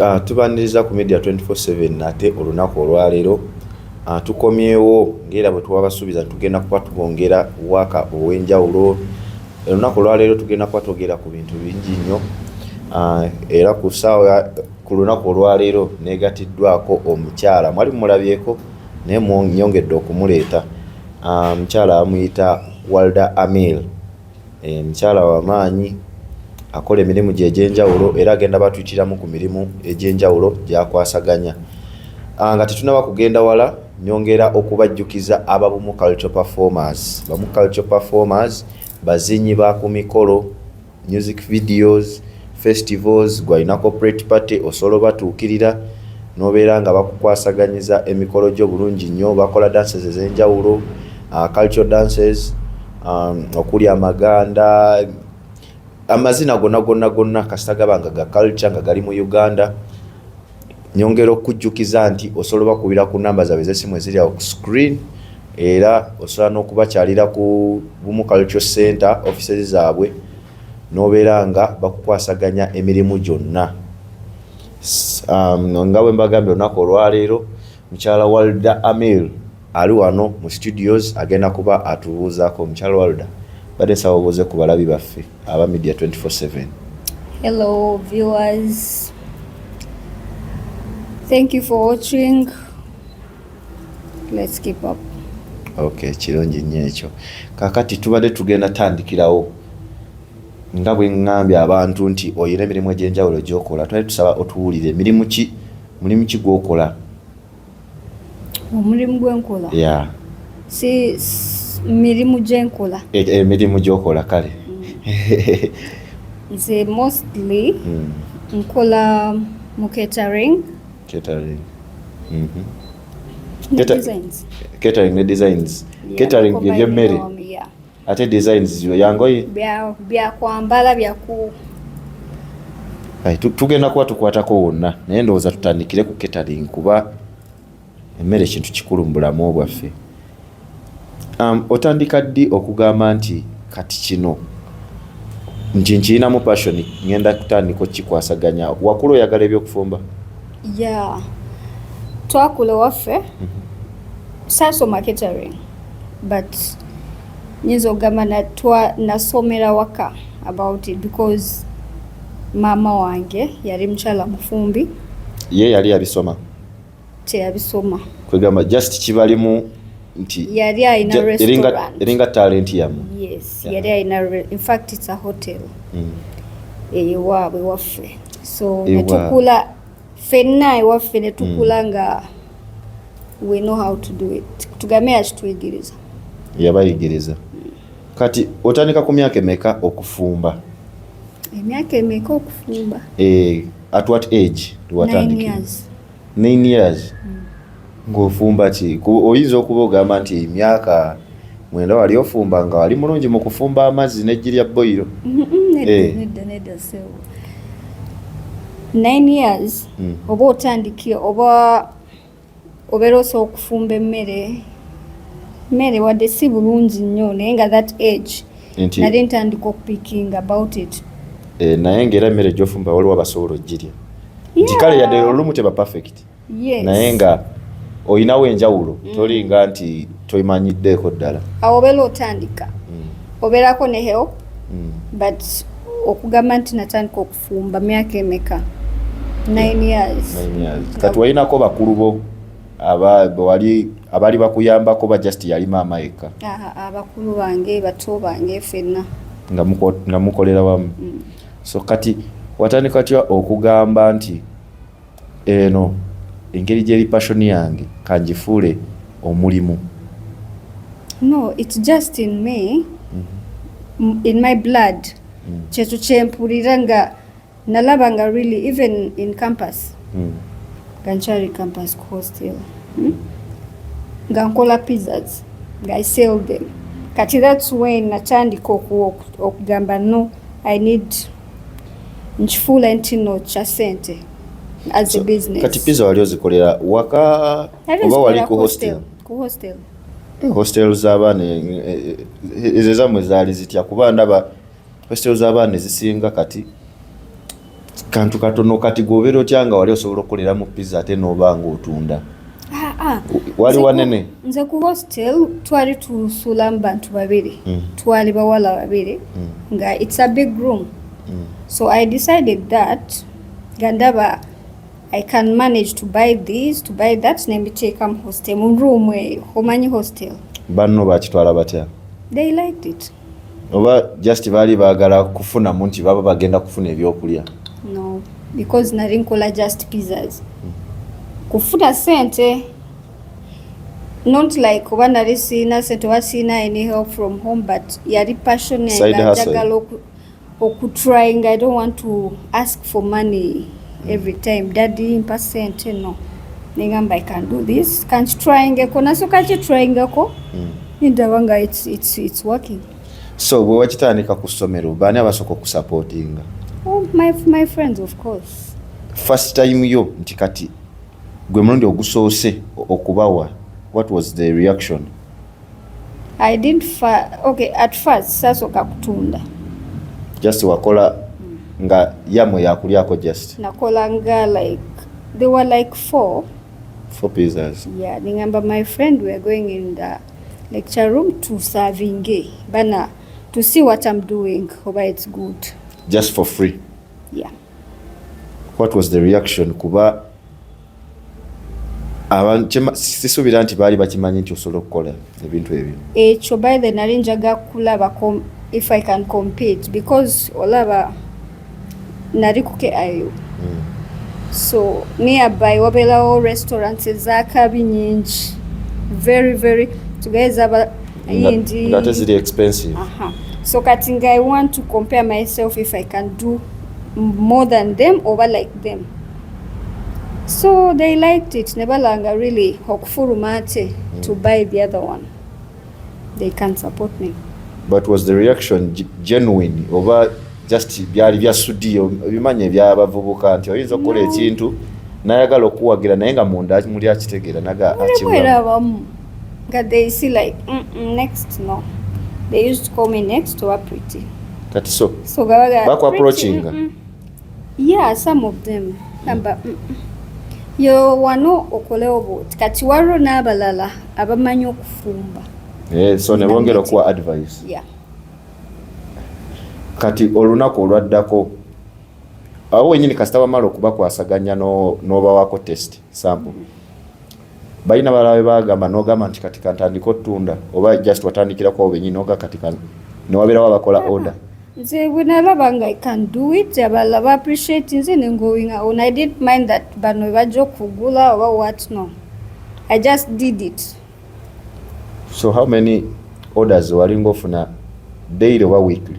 Ah, tubaniriza ku media 24/7 nate olunaku olwaleero ah, tukomyewo ngaera bwe twabasuubiza tugenda kuba tubongera waka ow'enjawulo olunaku olwaleero tugenda kuba twogera ku bintu bingi nnyo ah, era ku saawa ku lunaku olwaleero negatiddwako omukyala mwali mulabyeko naye nyongedde okumuleeta mukyala amuyita walda amil Eh, mukyala wa maanyi akola emirimu gye egy'enjawulo era agenda batuyitiramu ku mirimu egy'enjawulo gyakwasaganya ah, nga tetunaba kugenda wala nyongera okubajjukiza ababumu cultural performers bamu cultural performers bazinyi ba ku mikolo music videos festivals gwalina corporate party osobola obatuukirira nobeera nga bakukwasaganyiza emikolo gyo bulungi nnyo bakola dances ez'enjawulo ah, cultural dances um, okuli amaganda amazina gonna gonna gonna kasita gaba nga ga culture nga gali mu uganda nyongera okujjukiza nti osobola bakubira ku namba zabwe zesimu eziri awo ku screen era osobola n'okubakyalira ku bumu culture center offices zaabwe n'obeera nga bakukwasaganya emirimu gyonna um, nga bwe mbagambye olunaku olwaleero mukyala walda amil Ali wano mu studios agenda kuba atubuuzaako. Mukyala Walda, mbadde nsaba obuuze ku balabi baffe aba Media 24/7. Hello viewers. Thank you for watching. Let's keep up. Okay, kirungi nnyo ekyo. Kakati tubadde tugenda tandikirawo nga bwe ngambye abantu nti oyina emirimu egy'enjawulo gy'okola twali tusaba otuwulire mirimu ki mulimu ki gw'okola omulimu gwenkola yeah. si mirimu gyenkola e, e, emirimu gyokola kale mm. nze mostly mm. nkola mu catering catering mm -hmm. catering ne designs catering byebyemmere ate designs ziyo yangoye bya bya kwambala bya ku tugenda kuba tukwatako wonna naye ndowooza tutandikire ku catering kuba emmere kintu kikulu mu bulamu bwaffe um, otandika ddi okugamba nti kati kino nti nkirinamu passion ngenda kutandika okikwasaganya wakula oyagala ebyokufumba ya twakula waffe mhm. saasoma catering but nyinza okugamba nasomera waka about it because maama wange yali mukyala mufumbi ye yali yabisoma teyabisoma kwegamba just kibalimu nti yali alina restaurant eringa talent yamu yes yeah. yali alina in fact it's a hotel mm. eyewaabwe waffe so netukula fenna ewaffe ne tukula hmm. nga we know how to do it tugambe yakituyigiriza yabayigiriza kati otandika ku myaka emeka okufumba emyaka emeka okufumba eh, at what age watandikira nine years mm. ng'ofumba ki oyinza okuba ogamba nti emyaka mwenda wali ofumba nga wali mulungi mu kufumba amazzi n'eggi lya boyiro eh. nine years hmm. oba otandikire oba obeera osobola okufumba emmere mmere wadde si bulungi nnyo naye nga that age nali ntandika okupiking about it eh, naye ngaera emmere gyofumba waliwo abasobola ogirya nti kale yadde olumu teba perfect yes. naye nga olinawo enjawulo mm. tolinga nti toimanyiddeeko ddala awo obeera otandika mm. obeerako ne help mm. but okugamba nti natandika okufumba myaka emeka kati walinako bakulu bo abawali abali bakuyambako ba just yali maama yekka abakulu bange bato bange fenna nga mukolera wamu mm. so kati watandika tya okugamba nti Eno engeri gyeri passion yange kangifuule omulimu. No, it's just in me. Mm -hmm. In my blood. Mm. Kyetu kyempulira nga nalaba nga really even in campus. Mm. Ganchari campus hostel. Mm? Nga nkola pizzas. Nga I sell them. Kati that's when natandika okugamba no I need nkifuula nti no kya sente as so, a business kati pizza wali ozikolera waka oba wali ku hostel ku hostel eh, hostel z'abaana eh, eh, ezo zamwe zaali zitya kuba ndaba hostel z'abaana ezisinga kati kantu katono kati gwobeera otya nga wali osobola okukoleramu pizza ate n'oba nga otunda ah, ah. wali wanene nze ku hostel twali tusulamu bantu babiri mm. twali bawala babiri mm. nga it's a big room mm. so i decided that gandaba i can manage to buy this to buy that nembiteeka mu hostel mu room eyo omanyi hostel banno bakitwala batya they liked it oba just baali baagala kufunamu nti baba bagenda kufuna ebyokulya no because nali nkola just pizzas hmm. kufuna sente not like oba nali siina sente oba siina any help from home but yali passion yange njagala okutrying i don't want to ask for money every time daddy mpa sente no nengamba i can do this kankitryingeko nasooka kitryingako nindaba hmm. nga it's, it's, it's working so bwe wakitandika ku ssomero baani abasooka okusupportinga oh, my, my friends of course first time yo nti kati gwe mulundi ogusoose okubawa what was the reaction I didn't fa okay at first sasoka kutunda just wakola mm. nga yamwe yakulyako just nakola nga like they were like four four pizzas yeah ningamba my friend we are going in the lecture room to serving eh, bana to see what I'm doing hope it's good just for free yeah what was the reaction kuba sisuubira nti baali bakimanyi nti osobola okukola ebintu ebyo ekyo by the nali njaga kulaba if i can compete because olaba nali ku kiu hmm. so nearby wabeerawo restaurants ezakabi nyingi very very tugeza yindi ngate ziri expensive uh -huh. so kati nga i want to compare myself if i can do more than them oba like them so they liked it ne balanga really okufuluma ate mm. to buy the other one they can support me but was the reaction genuine oba just byali bya studio bimanye bya bavubuka nti oyinza okukola no. ekintu nayagala okuwagira naye nga munda muli akitegeera naga akiwera abamu nga they see like mm -mm, next no they used to call me next to a pretty kati so so gabaga bakwa approaching mm -mm. yeah some of them amba mm, mm. yo wano okolewo bwoti kati waliwo n'abalala abamanyi okufumba eh, so ne bongera okuwa advice yeah. kati olunaku olwaddako awo wenyini kasita wamala okubakwasaganya n'obawako test sample balina balala bagamba nogamba nti kati kantandika otunda oba just watandikirako awo benyini oga kati newabeerawo abakola order nze bwenalaba nga i can do it abalala ba appreciate nze ne going on i didn't mind that bano bajja okugula oba what no i just did it so how many orders walinga ofuna daily oba weekly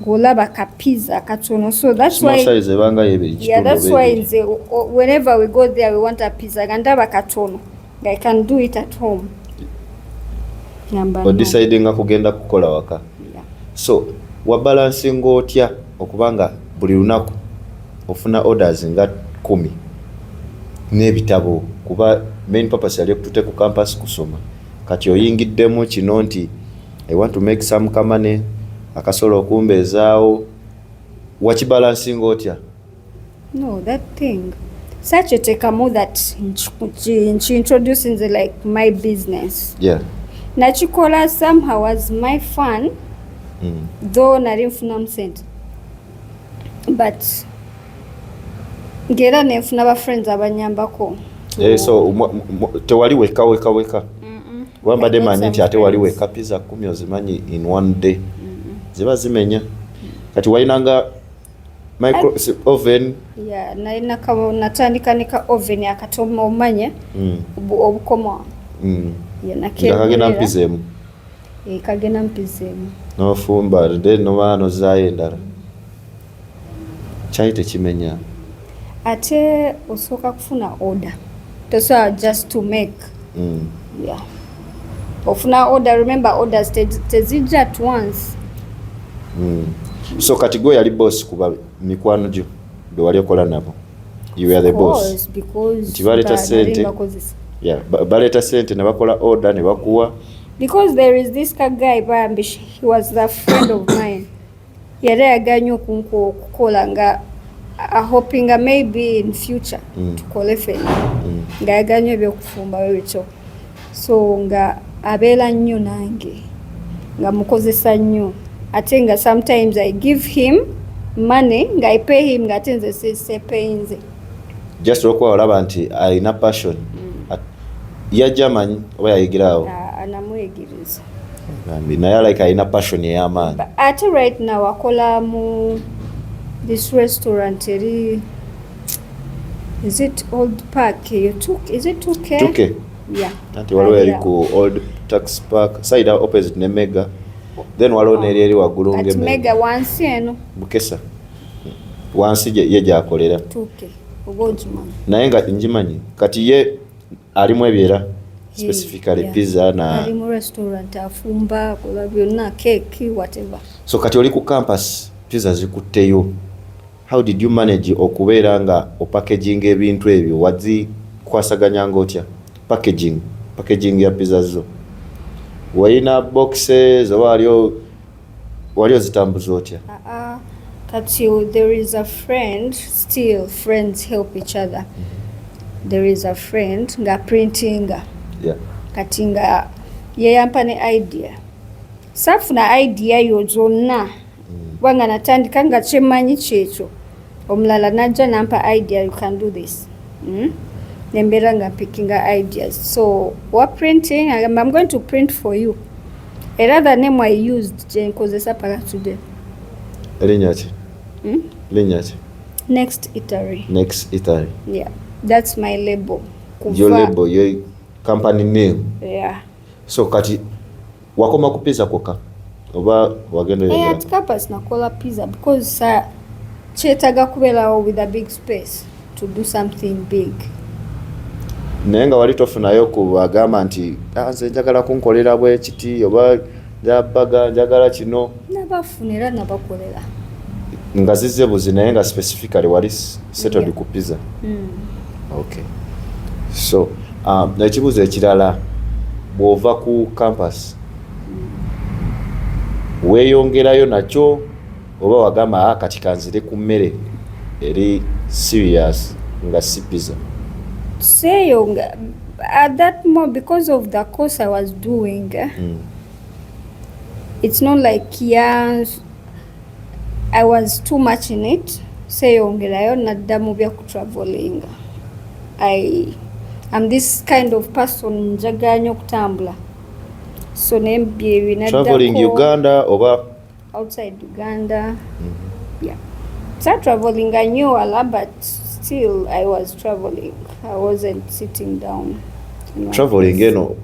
Golaba ka pizza katono so that's why size ebanga yebe kitu yeah that's why nze whenever we go there we want a pizza gandaba katono i can do it at home namba decide nga kugenda kukola waka yeah. so wa balancing otya okubanga buli lunaku ofuna orders nga kumi n'ebitabo kuba main purpose yali okutute ku campus kusoma kati oyingiddemu kino nti I want to make some kamane akasobola okumbeezaawo wakibalansinga otya no that thing such eteekamu that nkiintroducinze like my business yeah. nakikola somehow as my fun mm. though nali nfunamu sente but ngaera nenfuna bafriends abanyambako yeah, so tewali weka weka weka kuba mbadde manyi nti ate wali weka pizza kumi ozimanyi in one day mm-hmm. ziba zimenya kati walinanga micro oven ya nalina kabo natandika ne ka oven akatoma omanya mm. obukoma mm. nakagenda mpiza emu eh, kagenda mpiza emu nofumba then noba nozayo endala kyali tekimenya ate osooka kufuna order tosobola just to make mm. yeah. ofuna order remember orders tezijja at once mm. so kati gwe yali boss kuba mikwano gyo be wali okola nabo you were the boss nti baleeta sente yeah, baleeta sente ne bakola order ne bakuwa because there is this guy bambi he was the friend of mine yali ayagala nyo okunkuwa okukola nga ahopinga maybe in future mm. tukole fena mm. nga ayagala nyo ebyokufumba webityo so nga abeera nnyo nange nga mukozesa nnyo ate nga sometimes i give him money nga i pay him nga ate nze sisepeyinze just olwokuba olaba nti alina passion mm. yajja amanyi oba yayigiraawo ah, anamwegiriza naye like alina passion ey'amaanyi ate right now akola mu this restaurant eri is it old park eyo is it 2k 2k yeah anti waliwo yali ku old tax park side opposite ne mega then waliwo neri eri waggulu ngemega wansi eno bukesa wansi ye gyakolera naye nga ngimanyi kati ye alimu ebyo era specifically yeah. pizza na ali mu restaurant afumba kola byonna cake whatever so kati oli ku campus pizza zikutteyo how did you manage okubeera nga opackaging ebintu ebyo wazikwasaganya nga otya packaging packaging ya pizza zo walina boxes oba aliyo Wali ozitambuza otya? Uh-uh. Kati there is a friend still friends help each other. Mm-hmm. There is a friend nga printinga. Yeah. Kati nga yeyampa ne idea. Safuna idea yo zonna. Mm. Wanga natandika nga kyemanyi kyekyo. Omulala najja nampa idea you can do this. Mm? nembeera nga pickinga ideas so wa printing I'm going to print for you Era the name I used kyenkozesa paka today. Linnya ki? Hmm? Linnya ki? Next Italy. Next Italy. Yeah. That's my label. Kuva. Your label, your company name. Yeah. So kati wakoma ku pizza kwokka oba wagenda eh, oyagala? At Kappas nakola pizza because sa kyetaga kubeerawo with a big space. to do something big naye nga wali tofunayo ku agamba nti ah, nze njagala kunkolera bwekiti oba njabaga njagala kino nabafuna era nabakolera nga zize buzi naye nga specifically wali settled yeah. ku pizza mm. okay so um, ekibuzo ekirala bwova ku campus mm. weyongerayo nakyo oba wagamba ah, kati kanzire ku mmere eri serious nga si pizza seyo nga at that mo because of the course i was doing eh, mm. it's not like yeah, i was too much in it seyongerayo nadda mu bya kutravelinga i am this kind of person njaganya okutambula so naye byebi naddako traveling uganda oba outside Uganda. Mm -hmm. Yeah. Start traveling, I knew a lot, but still I was traveling. I wasn't sitting down. Traveling, you know.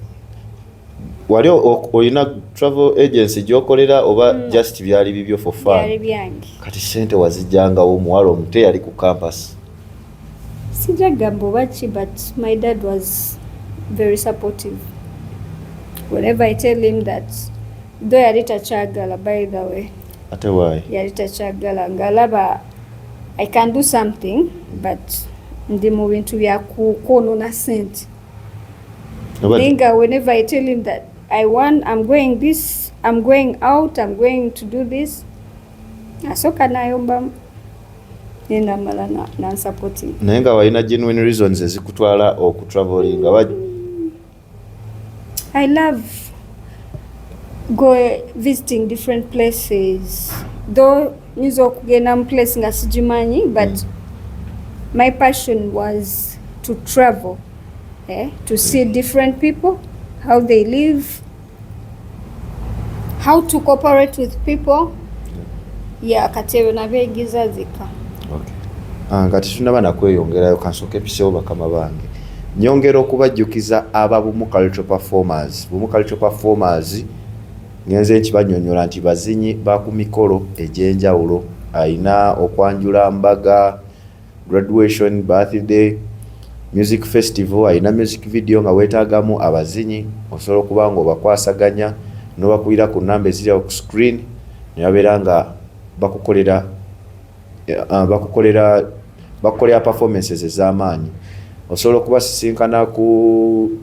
Wali olina travel agency gyokolera oba mm. just byali bibyo for fun? Byali byange. Kati sente wazijjangawo omuwala omute yali ku campus. Sija gamba oba ki but my dad was very supportive. Whenever I tell him that do yali takyagala by the way ate wayi yali takyagala ngalaba i can do something but ndi mu bintu bya kwonona sente ninga whenever i tell him that i want i'm going this i'm going out i'm going to do this asoka nayombamu nenamala nansupporting naye nga walina genuine reasons ezikutwala okutravelinga I love go visiting different places though nyinza okugenda mu place nga sigimanyi but mm. my passion was to travel eh, to see different people how they live how to cooperate with people ya katero nabeegiza zika ah, nga tetunaba nakweyongerayo kansooka episewo bakama bange nyongera okubajjukiza aba bumu cultural performers bumu cultural performers ngenze nkibanyonyola nti bazinyi ba ku mikolo egy'enjawulo alina okwanjula mbaga graduation birthday music festival alina music video nga weetaagamu abazinyi osobola okuba nga obakwasaganya n'obakubira ku namba eziri awo ku screen ne babeera nga bakukolera eh, ah, bakukolera bakukolera performances ez'amaanyi osobola okubasisinkana ku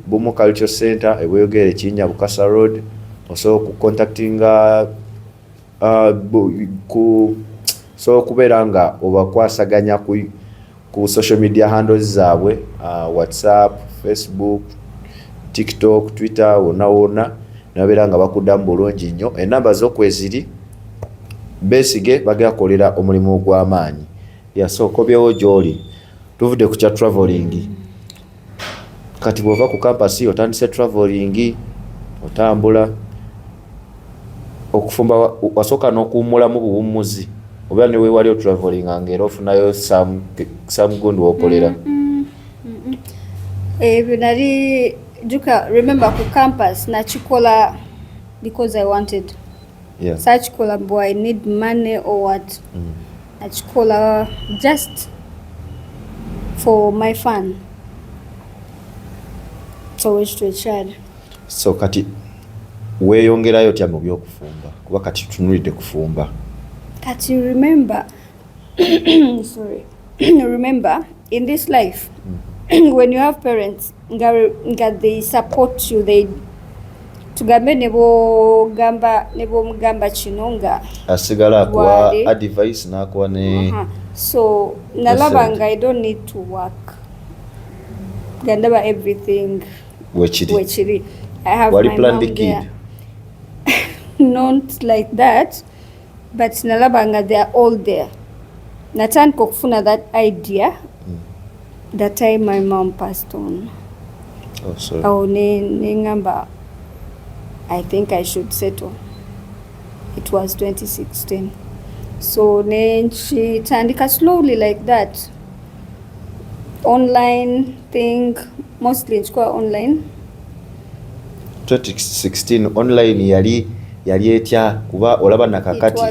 bumu culture center ebweyogera ekinnya bukasa road osobola okucontactinga uh, ku so okubeera nga obakwasaganya ku, ku social media handles zaabwe uh, whatsapp facebook tiktok twitter wona wona nababeera nga bakudamu bulungi nnyo enamba zokweziri besige bagera kolera omulimu ogwamaanyi yasokobyewo gyoli tuvudde ku kya traveling kati bwova ku kampasi otandise traveling otambula okufumba wasooka n'okuwummulamu buwummuzi oba ne weewali otraveling nga era ofunayo samgundu wokolera ebyo nali juka remember ku campus nakikola because i wanted yeah. sakikola bu i need money or what mm. nakikola just for my fun so ekyo ekyali so kati weeyongerayo tya mu byokufumba kuba kati tutunulidde kufumba kati remember sorry remember in this life mm. when you have parents nga, nga they support you they tugambe nebogamba nebomugamba kino nga asigala akuwa advice nakuwa ne uh -huh. so nalaba nga i don't need to work gandaba everything wekiri wekiri i have Wali my mom there not like that but nalaba nga they are all there natandika okufuna that idea mm. that time my mom passed on oh, sorry. awo nengamba i think i should settle it was 2016 so nenkitandika slowly like that online thing mostly nkikola online 2016 online yali yali etya kuba olaba nakakati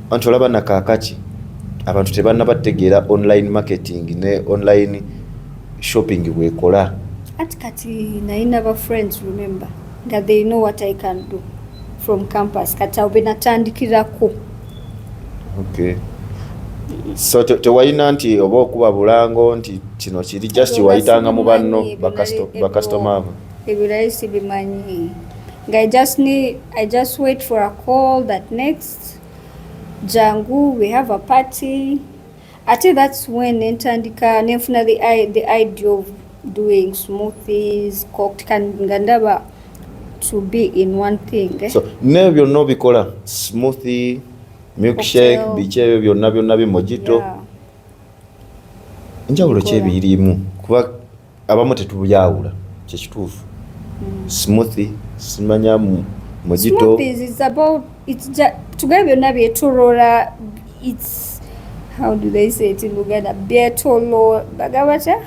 anti olaba nakakaki abantu tebanna bategeera online marketing ne online shopping bwekola ati kati nayina ba friends remember nga they know what i can do from campus kati awo benatandikirako okay. so tewalina nti oba okuba bulango nti kino kiri just wayitanga mu banno bakasitoma abo ebirayi sibimanyi nga i just need i just wait for a call that next jangu we have a party ate that's when nentandika nenfuna the, the idea of doing smoothies cocked kan nga ndaba to be in one thing eh? so ne byonna obikola smoothie milkshake biki ebyo byonna byonna bimojito yeah. njawulo kyebirimu kuba abamu tetubyawula kyekituufu mm. smoothi simanya mojito tugee byonna byetulora its how do they say it in luganda byetolo bagabatya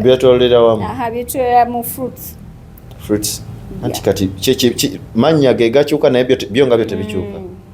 byetolera wamu aha byetolera mu fruits fruits anti kati mannya ge gakyuka naye byo nga byo tebikyuka mm.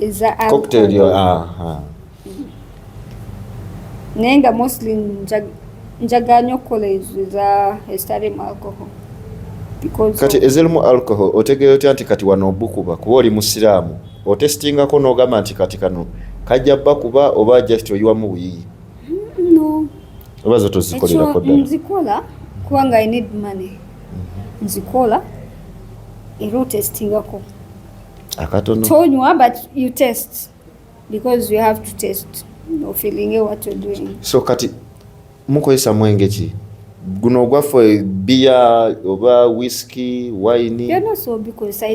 is a alcohol. cocktail yo ah, ah. naye nga mostly njagala nyo okukola ezo eza ezitalimu alcohol kati ezirimu alcohol otegeera otya nti kati wano obukuba kuba oli musiraamu otesitingako n'ogamba nti kati kano kajja bakuba oba just oyiwamu buyiyi mm, oba zo tozikolerako ddala nzikola kubanga i need money mhm. nzikola era otesitingako akatono tonywa but you test because you have to test ofeelinge what you're doing so kati mukozesa mwenge ki guno ogwaffe biya oba whisky wine byona so bikozesa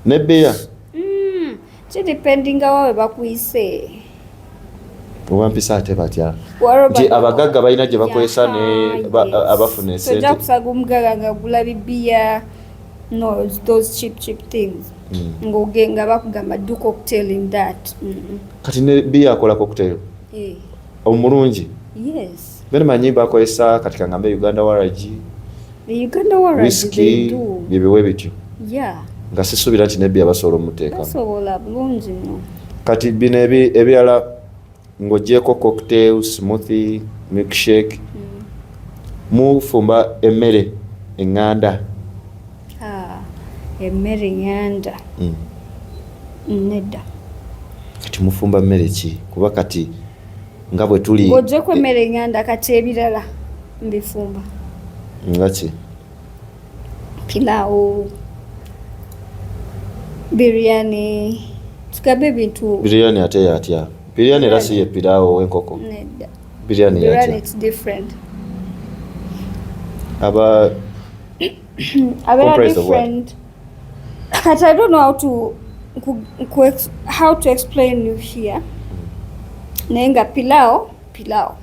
ne beya mm, kidependinga wawe bakuyise owampisa ate batya nti abagagga balina gye bakozesa ne abafuna esente kusaga omugagga nga gula bibiya no those cheap cheap things mm. ng'ogenga bakugamba do cocktail in that kati ne biya akola cocktail eh. omulungi yes Bino manyi bakozesa kati kangambe Uganda waragi Uganda waragi whisky byebiwe bityo yeah. nga sisuubira nti nebbi abasobola omuteekamusobola bulungi nnyo kati bino ebirala ng'ogyeko cocktail smoothie milkshake mm. mufumba emmere eŋŋanda ah, emmere eŋŋanda mm. nedda kati mufumba mmere ki kuba kati nga bwe tuli ng'oggyeeko emmere eng'anda kati ebirala mbifumba nga ki pilaawo biryani tugambe ebintu biryani ate yatya biryani era si ye pilaawo ow'enkoko nedda biryani yatya aba Comprised of what? But I don't know how to how to explain you here. Nenga pilao pilao.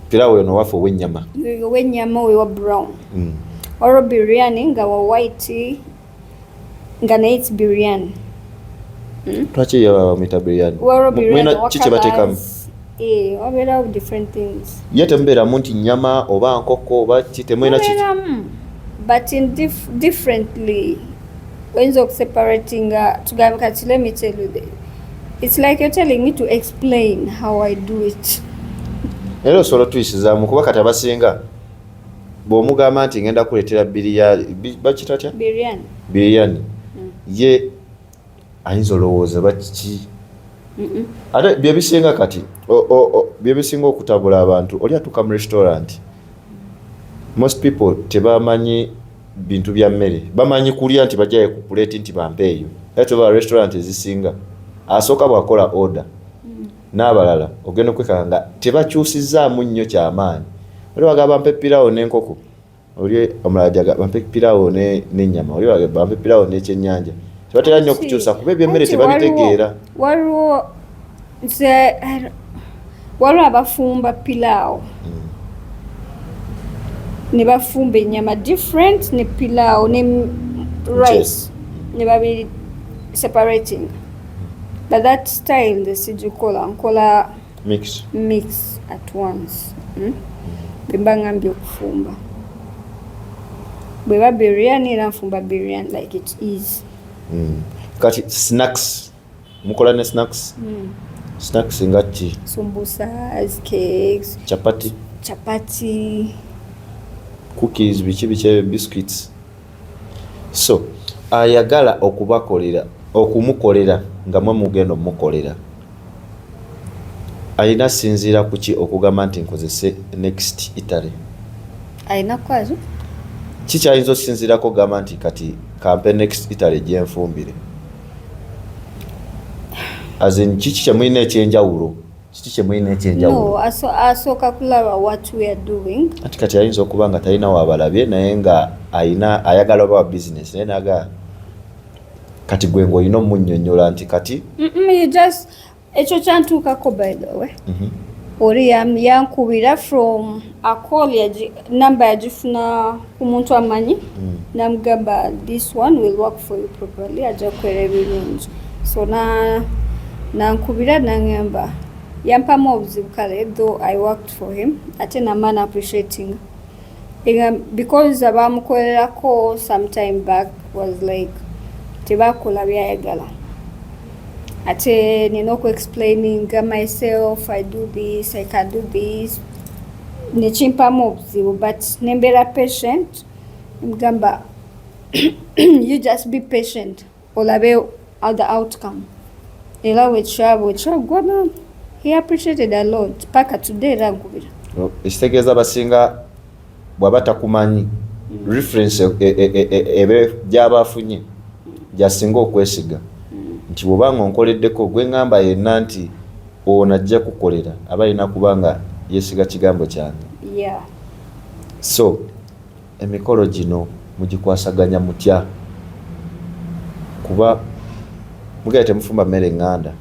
Pilao yono wafu owe nyama. Owe nyama owe wa brown. Mm. Oro biryani nga wa white nga na it's biryani. Mm. Twachi ya mita biryani. Mwena chiche batekamu. Eh, ye temubeeramu nti nyama oba nkoko oba ki temulina oyinza okuseparatinga tugambe kati let me tell you the, it's like you're telling me to explain how i do it era osobola otuyisizaamu kuba kati abasinga bw'omugamba nti ngenda kuleetera biriya bakita tya biriyani mm. ye ayinza olowooza bakiki ate byebisinga kati byebisinga okutabula abantu oli atuuka mu restaurant most people tebamanyi bintu bya mmere bamanyi kulya nti bajaye ku puleti nti bampe eyo etoba restaurant ezisinga asooka bwakola order mm. n'abalala ogenda okwekanga tebakyusizaamu nnyo kyamaanyi oli wagamba mpe pirawo n'enkoko oli omulala jaga bampe pirawo ne ne nyama oli wage bampe pirawo ne kyenyanja tubatera nyo kuchusa kube bye mere tebabitegeera waliwo nze waliwo abafumba pirawo mm. ne bafumba enyama different ne pirawo ne rice ne babi separating but that style nze sijikola nkola mix mix at once hmm? bemba ngambye okufumba bweba biryani era nfumba biryani like it is mm. kati snacks mukola ne snacks mm. snacks nga ki sumbusas cakes chapati chapati cookies biki biki biscuits so ayagala okubakolera okumukolera nga mwe mugenda omukolera alina asinziira ku ki okugamba nti nkozese next italy alina kukwazo ki kyayinza okusinziirako okugamba nti kati kampe next italy gyenfumbire azin kiki kyemulina ekyenjawulo kiki kyemulina ekyenjawulo asooka kulaba what we are doing ati kati ayinza okuba nga talina wabalabye naye nga ayina ayagala oba wa business naye naga kati gwe ng'olina omunyonyola nti kati ekyo kyantuukako by the way mhm. oli yankubira from acall number yagifuna ku muntu amanyi mm. namugamba this one will work for you properly ajja kukwera ebirungi so nankubira nangamba yampamu obuzibu kale though i worked for him ate namana appreciating because abaamukolerako sometime back was like tebakola byayagala ate nina oku explaining myself i do this i can do this nekimpamu obuzibu but nembeera patient mugamba you just be patient olabe other outcome era wekyaba okyaggwana he appreciated a lot paka today era nkubira ekitegeeza basinga bwaba takumanyi mm. reference e, e, e, ebe gyaba afunye gyasinga okwesiga mm. nti bwoba nga onkoleddeko gwe ngamba yenna nti ono ajja kukolera aba alina kuba nga yesiga kigambo kyange so Emikolo gino mugikwasaganya mutya kuba mugenda temufumba mmere nganda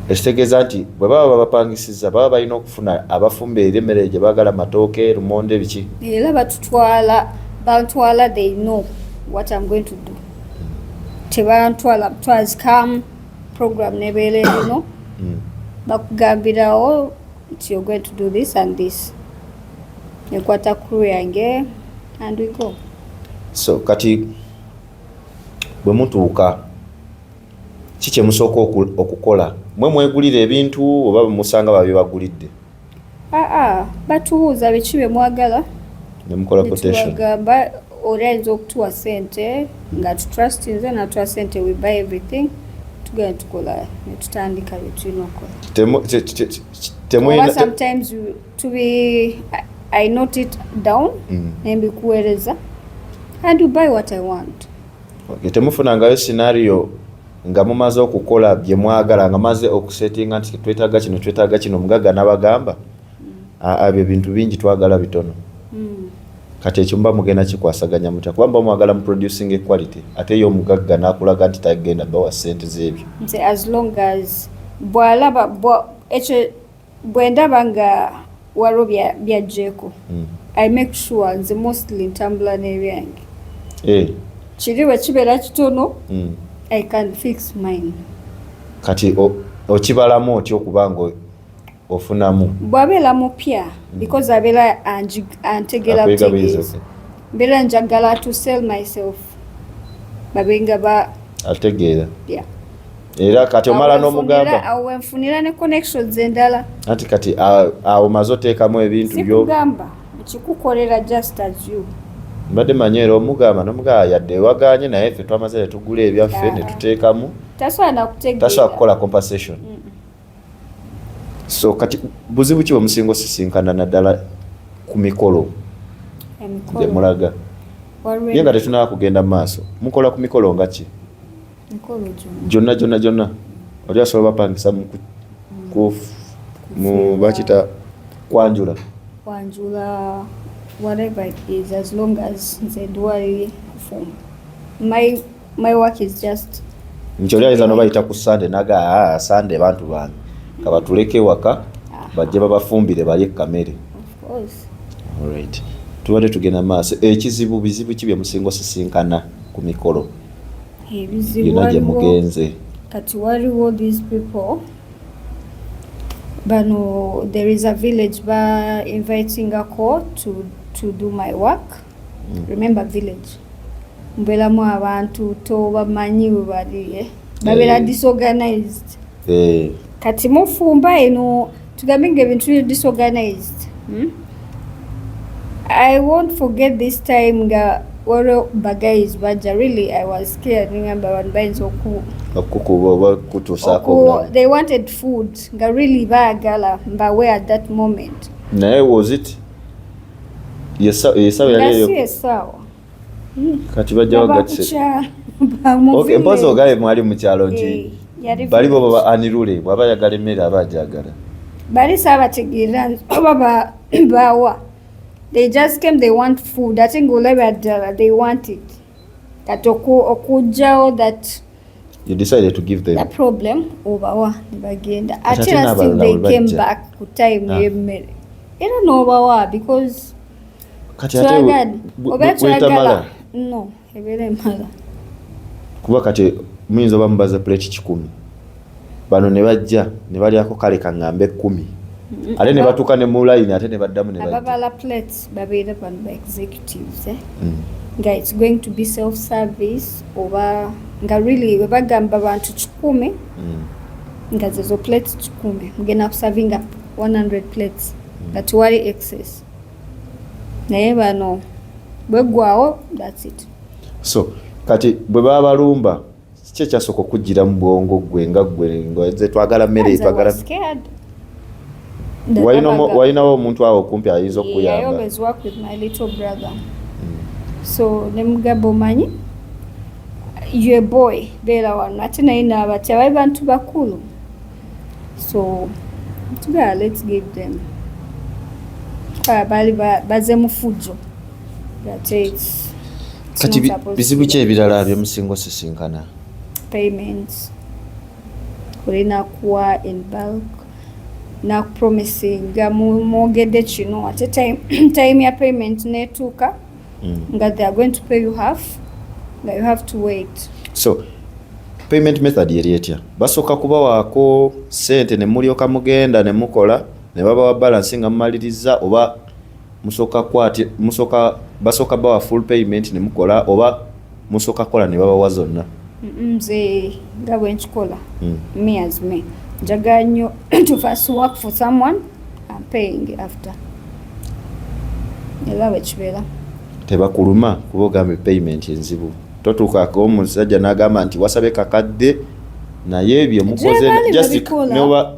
ekitegeeza nti bwe baba babapangisiza baba balina okufuna abafumba eri emmere gye baagala matooke lumonde biki era batutwala bantwala they know what am going to do tebantwala twazikamu program nebeera eno hmm. bakugambirawo nti you're going to do this and this nekwata crew yange and we go so kati bwe mutuuka ki kye musooka okukola mwe mwegulira ebintu oba musanga babye bagulidde aa ah, ah, batubuuza biki bye mwagala ne mukola quotation bagamba Oli ayinza okutuwa sente nga tutrustinze natuwa sente we buy everything tugenda tukola netutandika byetulina okukola sometimes to be I note it down mm. nembikuweereza and you buy what I want okay, temufunangayo scenario nga mumaze okukola bye mwagala nga maze okusetinga nti twetaaga kino twetaaga kino mugagga nabagamba abyo bintu bingi twagala bitono hmm. kati ekyo muba mugenda kikwasaganya mutya kuba muba mwagala mu producing equality ate yo omugagga nakulaga nti tagenda bawa sente zebyo bwalaba ekyo bwendaba nga waliwo byajjeeko hmm. i make sure nze mostly ntambula n'ebyange eh. kiri bwe kibeera kitono hmm. i can fix mine kati okibalamu otya okuba nga ofunamu bwabeera mupya mm. because abeera antegera butegeezi mbeera njagala to sell myself babenga ba ategeera yeah. era kati omala n'omugamba awo wenfunira ne connections endala anti kati awo maze oteekamu ebintu byo sikugamba kikukolera just as you mbadde manyi era omugamba nomugamba yadde waganye naye ffe twamaze netugula ebyaffe netuteekamu tasobola kukola compensation mm. so kati buzibu ki bwemusinga osisinkana naddala ku mikolo gyemulaga naye nga tetunaba kugenda mu maaso mukola ku mikolo nga ki gyonna gyonna gyonna oli asobola bapangisa mu mm. bakita kwanjula kwanjula whatever it is as long as nze duwaliri kufumba my My work is just nti oli ayinza nobayita ku sande naga ah, sande bantu bange kabatuleke ewaka ah. bajje babafumbire balye kamere right tubadde tugenda maaso ekizibu bizibu ki byemusinga osisinkana ku mikolo yona gyemugenze kati waliwo these people bano there is a village ba invitingako to, to do my work mm. remember village mubelamu abantu tobamanyi webali eh? babera hey. Eh. disorganized hey. Eh. kati mufumba eno tugambe nga ebintu biri disorganized hmm? i won't forget this time nga waliwo bagayizi bajja really i was scared ningamba abantu bayinza oku okukuba oba okutuusaako they wanted food nga really baagala mbawe at that moment naye was it yesawo yali eyo kati bajjawo gatiseke mpozi ogabe mwali mukyalo nti eh, bali bo baba anirule bwaba ayagala emmere aba ajagala bali saabategeera oba baawa they just came they want food ate ngaolabira ddala they want it kati okujjawo that you decided to give them the problem obawa nebagenda ate era still they came back ku time ah. yemmere era nobawa because twagala oba twagala no ebeera emala kuba kati muyinza oba mubaza plate kikumi bano ne bajja ne balyako kale kaŋŋambe ekkumi ate ne batuuka ne mu layini ate ne baddamu ne babala plates babeera bano ba executives eh? mm. nga its going to be self service oba nga really bwe bagamba bantu kikumi mm. nga zezo plates kikumi mugenda kusavinga 100 plates mm. nga tewali excess naye bano bweggwawo thats it so kati bwe babalumba kiki ekyasooka okujjira mu bwongo gwe nga gwe nze twagala mmere twagala walinawo omuntu awo okumpi ayinza okukuyamba hmm. so nemugamba omanyi ye boy beera wano ate naye naabati abali bantu bakulu so tugala let's give them baali baze mufujjo kati bizibu ki ebirala byemusinga osisinkana payments olina kuwa in bulk nakupromisinga mwogedde kino ate time ya payment netuuka mm. nga they are going to pay you half nga you have to wait so payment method yeri etya basooka kubawaako sente ne mulyoka mugenda ne mukola ne babawa balance nga mumaliriza oba musooka kwati musooka basooka bawa full payment ne mukola oba musooka kola ne babawa zonna nze nga bwe nkikola hmm. me as me njagala nnyo to first work for someone am paying after era bwe kibeera tebakuluma kuba ogambe payment enzibu totuukako omusajja n'agamba nti wasabye kakadde naye byemukoze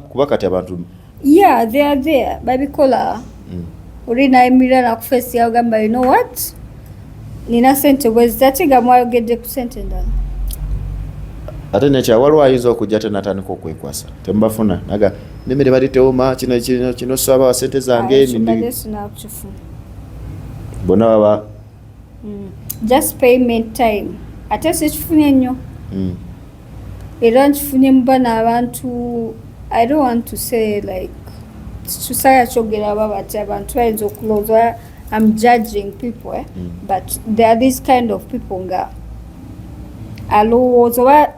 kuba kati abantu yeah they are there babikola mm. oli nayimirira nakufesi yagamba you know what nina sente bwezi ate nga mwayogedde ku sente endala ate nekya waliwo ayinza okujja te natandika okwekwasa temubafuna naga nemere bali teoma kino kino kino saba sente zange nini bona baba mm. just payment time ate sikifunye nnyo mm. era nkifunye mu bano abantu i don't want to say like tusaya kyogera aba bati abantu bayinza okulowooza am judging people eh? mm. but there are these kind of people nga alowooza oba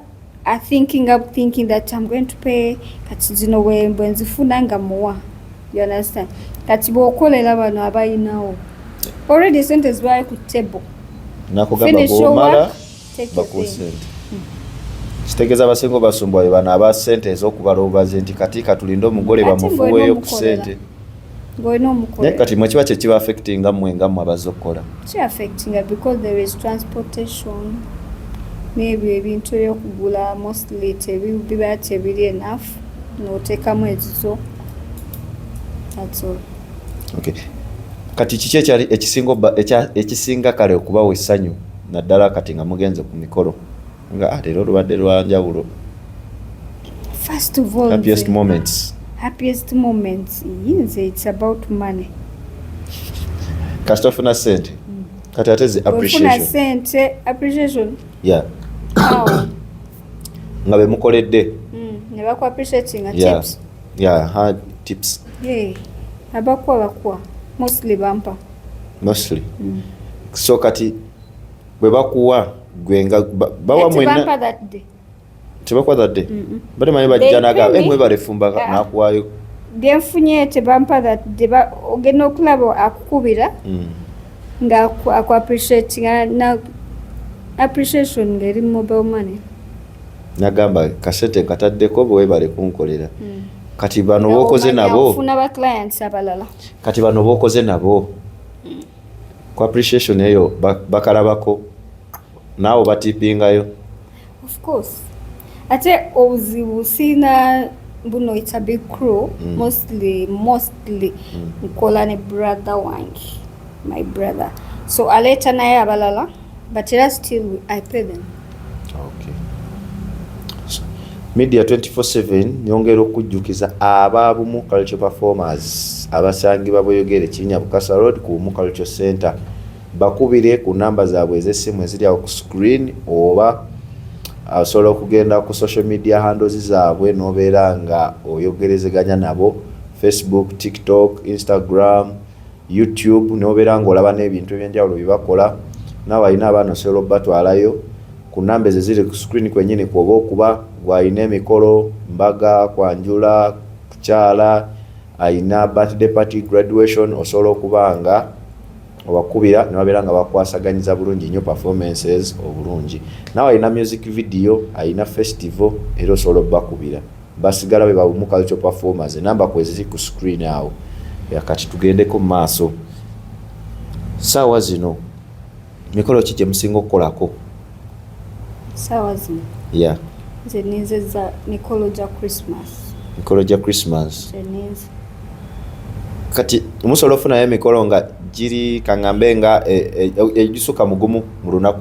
are thinking up thinking that i'm going to pay kati zino wembwe nzifuna nga muwa you understand kati bwokolera bano abayinawo already sente zibaye ku table finish your work bakuwa sente kitegeeza abasinga obasumbwa be bano aba sente ez'okubala obubazi nti kati katulinde omugole bamufuweeyo ku sente ng'olina omukola naye kati mwe kiba kye kiba affectinga mmwe nga mmwe abazze okukola ki affectinga because there is transportation n'ebyo ebintu ebyokugula mostly tebiba tebiri enough n'oteekamu ezizo that's all okay kati kiki ekyali ekisinga ekisinga kale okubawa essanyu naddala kati nga mugenze ku mikolo nga leero olubadde lwa njawulo first of all happiest moments happiest moments yinze it's about money kasita ofuna sente mm. kati ate zi appreciation sente appreciation yeah nga bemukoledde mm, ne baku appreciating a yeah. tips yeah hard tips hey abakuwa bakuwa mostly bampa mostly mm. so kati bwe bakuwa gwe nga bawa mwena tebakuwa that day bade manyi bajja naga eh, mwebale fumba ah. nakuwayo genfunye tebampa that day ogenda okulaba akukubira mm. nga aku appreciate na appreciation ngeri mobile money nagamba kasete kataddeko bwebale kunkolera mm. kati bano bokoze nabo funa ba clients abalala kati bano bokoze nabo ku appreciation eyo bakalabako naawe batipingayo ofcourse ate obuzibu siina buno its a big crew mm. mostly mostly mm. nkola ne brother wange my brother so aleeta naye abalala but era still i pay them Media 24/7 nyongera okujjukiza aba Bumu Culture Performers abasangibwa Buyogere Kinya Bukasa Road ku Bumu Culture Center bakubire ku namba zaabwe ez'essimu eziri awo ku screen oba ah, osobola okugenda ku social media handles zaabwe n'obeera nga oyogerezeganya nabo Facebook, TikTok, Instagram youtube nobeera ngaolaba n'ebintu ebyenjawulo byebakola naawe alina abaana osobola okubatwalayo ku namba ezo ziri ku screen kwenyini kwoba okuba gwalina emikolo mbaga kwanjula kukyala alina birthday party graduation osobola okuba nga obakubira nebabeera nga bakwasaganyiza bulungi nyo performances obulungi naawe alina music video alina festival era osobola okubakubira Basigala bwe bawumu cultural performers enamba kweziri ku screen awo. Kati tugendeko mu maaso. Saawa zino mikolo ki gye musinga okukolako? Saawa zino? Yeah. Nze ninzeza mikolo gya Christmas. Mikolo gya Christmas? Nze ninze. Kati musobola ofunayo emikolo nga giri kangambe nga egisukka e, e, e, mugumu mu lunaku?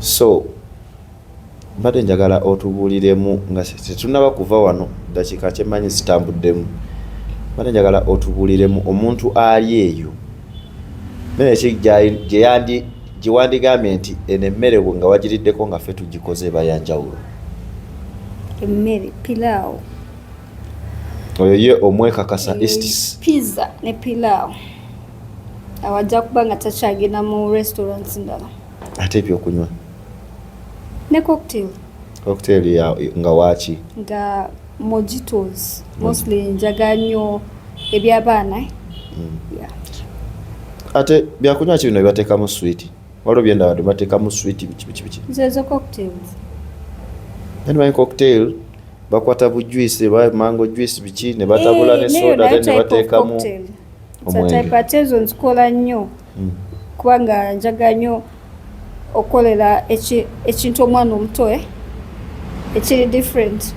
so mbadde njagala otubuuliremu nga tetunaba kuva wano dakiika kyemanyi zitambuddemu mbadde njagala otubuuliremu omuntu ali eyo mereki gyeyandi gyewandigambye nti eno emmere nga wagiriddeko nga fe tugikoze eba yanjawulo emmere pilaawo oyo ye omwekakasa estis pizza ne pilaawo awo ajja kuba nga takyagenda mu restaurants ndala ate ebyokunywa ne cocktail cocktail ya nga waaki nga mojitos mostly njaga nnyo ebyabaana eh? mm. ate byakunywa ki bino bibateekamu switi waliwo byendabadde bateekamu switi bikibikibiki zezo cocktails yani my cocktail bakwata bu juice ba mango juice biki ne batabula ne eh, soda ne batekamu typatezon zikola nnyo hmm. kubanga njaga nnyo okukolera ekintu omwana omuto eh, ekiri different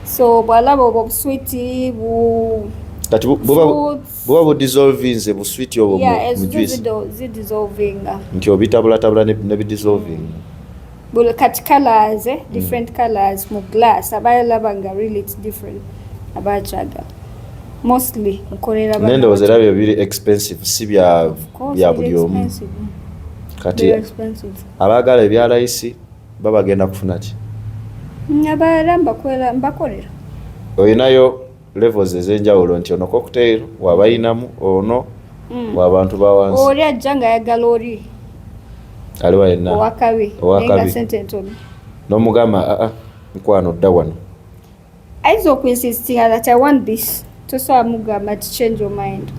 so bwalaba obwo obuswiti bu kati buba budissolvinze buswiti obwo mu juice nti obitabulattabula ne bidissolvinga buli kati colors eh? Mm. different colors mu glass abayo laba nga really it's different abakyagala mostly nkolera bana nendowoza era byo biri expensive si bya bya buli omu kati abaagala ebya layisi babagenda kufuna ki abaala mbakolera olinayo levels ezenjawulo nti ono cocktail wabayinamu ono mm. wabantu bawansi oli ajja nga ayagala oli aliwa yenna owakabi owakabi sente ntono nomugamba aa ah, ah, mukwano dda wano ayinza okuinsistinga that i want this tosobola mugamba ti change your mind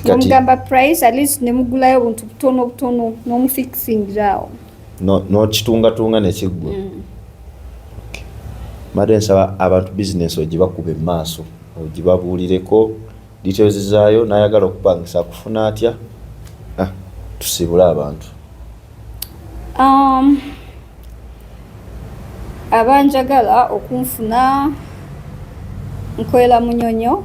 nomugamba price at least nemugulayo obuntu butono butono nomufixingirawo n'okitungatunga ne kiggwa mm. mbadde nsaba abantu bizinesi ogibakuba emaaso ogibabuulireko details zaayo n'ayagala okupangisa akufuna atya ah, tusiibule abantu um, abanjagala okunfuna nkolera munyonyo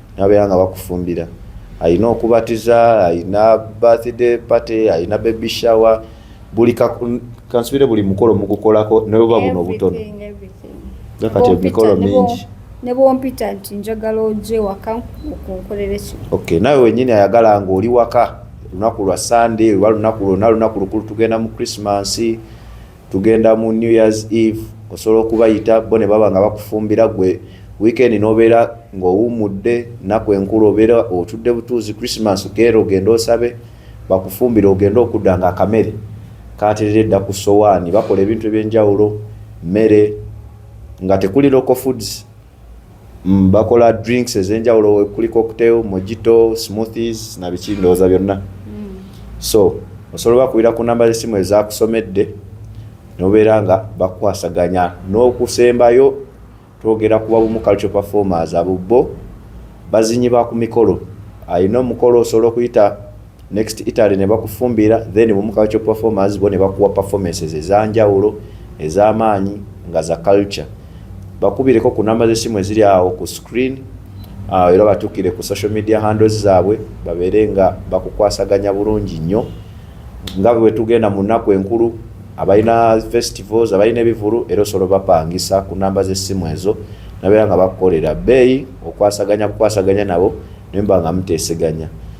nabeera nga bakufumbira alina okubatiza alina birthday party alina baby shower buli kansubire buli mukolo mugukolako neweba buno obutono kati emikolo mingi nebwompita nti njagala oje waka okunkolera ekyo okay nawe wenyini ayagala nga oli waka lunaku lwa sunday oba lunaku lwona lunaku lukulu tugenda mu christmas tugenda mu new years eve osobola okubayita bo ne baba nga bakufumbira gwe weekend nobeera ng'owummudde naku enkulu obeera otudde butuuzi christmas geera ogende osabe bakufumbire ogende okudda nga akamere katerere dda ku sowaani bakola ebintu ebyenjawulo mmere nga tekuli local foods Mm, bakola drinks ezenjawulo kuli cocktail mojito smoothies na biki ndowooza byonna mm. so osobola bakubira ku namba z'essimu ezakusomedde nobeera nga bakwasaganya n'okusembayo twogera kuba bumu culture performers abo bo bazinyi ba ku mikolo alina omukolo osobola okuyita next Italy ne bakufumbira then mu culture performers bo ne bakuwa performances ezanjawulo ez'amaanyi nga za culture bakubireko ku namba z'essimu eziri awo ku screen ah, era batukire ku social media handles zaabwe babeere nga bakukwasaganya bulungi nnyo nga bwe tugenda mu nnaku enkulu abalina festivals abalina ebivulu era osobola bapangisa ku namba z'essimu ezo nabeera nga bakukolera bbeeyi okwasaganya bukwasaganya nabo nemba nga muteeseganya